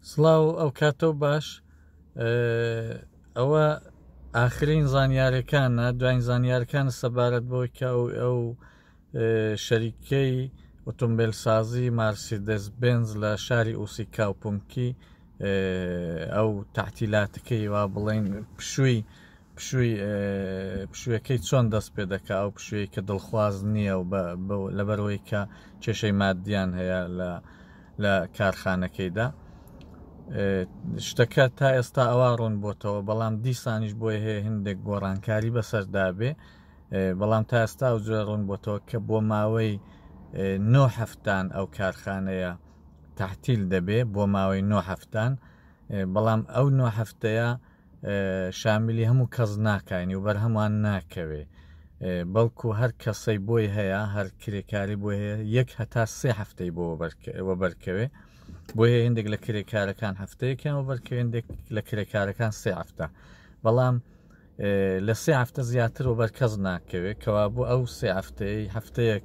سڵاو ئەوکاتۆ باش ئەوە ئاخرین زانیارەکانە دوایین زانیارکان سەبارەت بۆی کە ئەو ئەو شەریکەی ئۆتۆمبیل سازی مارسیدس بنز لە شاری ئوسی کاوپمکی ئەو تاعتیلاتەکەی وا بڵین پشووی پشووی پشوێکەی چۆن دەست پێ دەکا ئەو پشوێی کە دڵخواز نییە و لەبەرەوەی کە کێشەی مادیان هەیە لە لە کارخانەکەیدا شتەکە تا ئێستا ئەوە ڕوون بۆتەوە بەڵام دیسانیش بۆی هەیە هندێک گۆڕانکاری بەسەردابێ بەڵام تا ئێستا و جوێ ڕوون بۆتەوە کە بۆ ماوەی نۆ هەفتان ئەو کارخانەیە تحتیل دەبێ بۆ ماوەی نۆ هەفتان بەڵام ئەو نۆ هەفتەیە شامیلی هەموو کەس ناکاینی و بەرهەمان ناکەوێ بەڵکو هەر کەسەی بۆی هەیە هەر کرێکاری بۆ هەیە یەک هەتا سێ هەفتەی بۆ وەبەرکەوێ بۆیە هندێک لە کرێکارەکان هەفتەیەکیان وەبەرکەوێندێک لە کرێکارەکان سێ هەفتە بەڵام لە سێ هەفتە زیاتر و بەرکەز ناکەوێت کەوا بۆ ئەو سێ هەفتەیە هەفتەیەک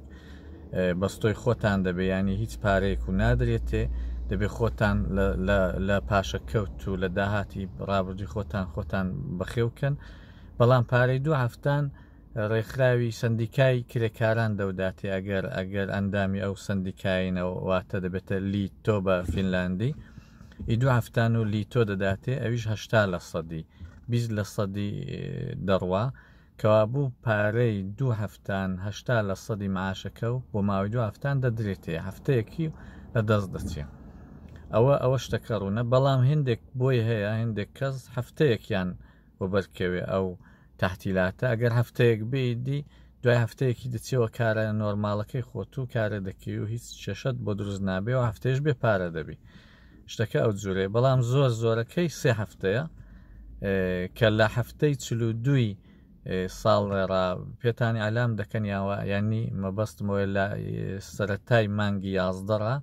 بەستۆی خۆتان دەبێ ینی هیچ پارەیەک و نادرێتێ دەبێ خۆتان لە پاشە کەوت و لە داهاتی ڕابردی خۆتان خۆتان بەخێوکەن بەڵام پارەی دوو هەفتان ڕێکخراوی سندیکای کرێکاران دەوداتێ ئەگەر ئەگەر ئەندامی ئەو سندیکایینەوە واتە دەبێتە لی تۆ بە فینلاندی ئیدو هەفتان و لیتۆ دەداتێ ئەویش هەشتا لە سەدی بیست لە سەدی دەڕوا کەوابوو پارەی دوو هەفتان هەشتا لە سەدی معاشەکە و بۆ ماوەی دوو هەفتان دەدرێتێ هەفتەیەکی لە دەست دەچێ ئەوە ئەوە شتەکە ڕوونە بەڵام هندێک بۆی هەیە هندێک کەس هەفتەیەکیان بۆ بەرکەوێ ئەو تحتیلاتە ئەگەر هەفتەیەک بیدی دوای هەفتەیەکی دەچێەوە کارە نۆرمالەکەی خۆت و کارە دەکەی و هیچ کێشەت بۆ دروست نابێ و هەفتێش بێ پارە دەبی شتەکە ئەو جورەیە بەڵام زۆر زۆرەکەی سێ هەفتەیە کە لە هەفتەی چل و دووی ساڵ ڕێڕا پێتانی ئالام دەکەن یاوە ینی مەبەستمەوە لە سەتای مانگی یازدەڕە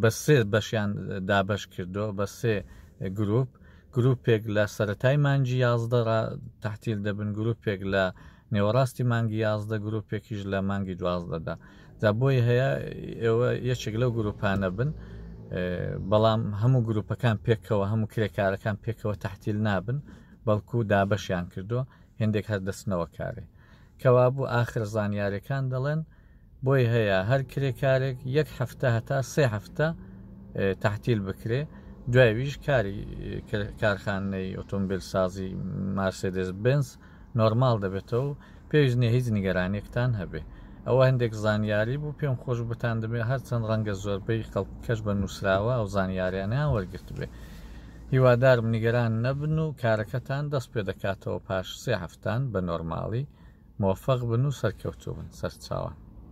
بە سێ بەشیان دابش کردو بە سێ گروپ گروپێک لە سەتای مانجی یازدەڕە تحتیل دەبن گروپێک لە نێوەڕاستی مانگی یازدە گروپێکیش لە مانگی دوازدەدا جا بۆی هەیە ئێوە یەکێک لەو گروپانە بن بەڵام هەموو گروپەکان پێکەوە هەموو کرێکارەکان پێکەوە تحتیل نابن بەڵکو دابەشیان کردو هندێک هەر دەستنەوە کارێ کەوابوو ئاخر زانیارەکان دەڵێن بۆی هەیە هەر کرێکارێک یەک هەفتە هەتا سێ هەفتە تحتیل بکرێ دوایویش کاری کارخانەی ئۆتۆمبیل سازی مارسدس بنس نۆرمال دەبێتەوە پێش نیە هیچ نیگەرانێکتان هەبێ ئەوە هەندێک زانیاری بوو پێم خۆش بتان دەبێ هەرچەند ڕەنگە زۆربەی خەڵکەش بە نووسراوە ئەو زانیاریانیان وەرگرت بێ هیوادارم نیگەران نەبن و کارەکەتان دەست پێ دەکاتەوە پاش سێ هەفتان بە نۆرماڵی، مۆفەق بن و سەرکەوتوو بن سەرچاوان.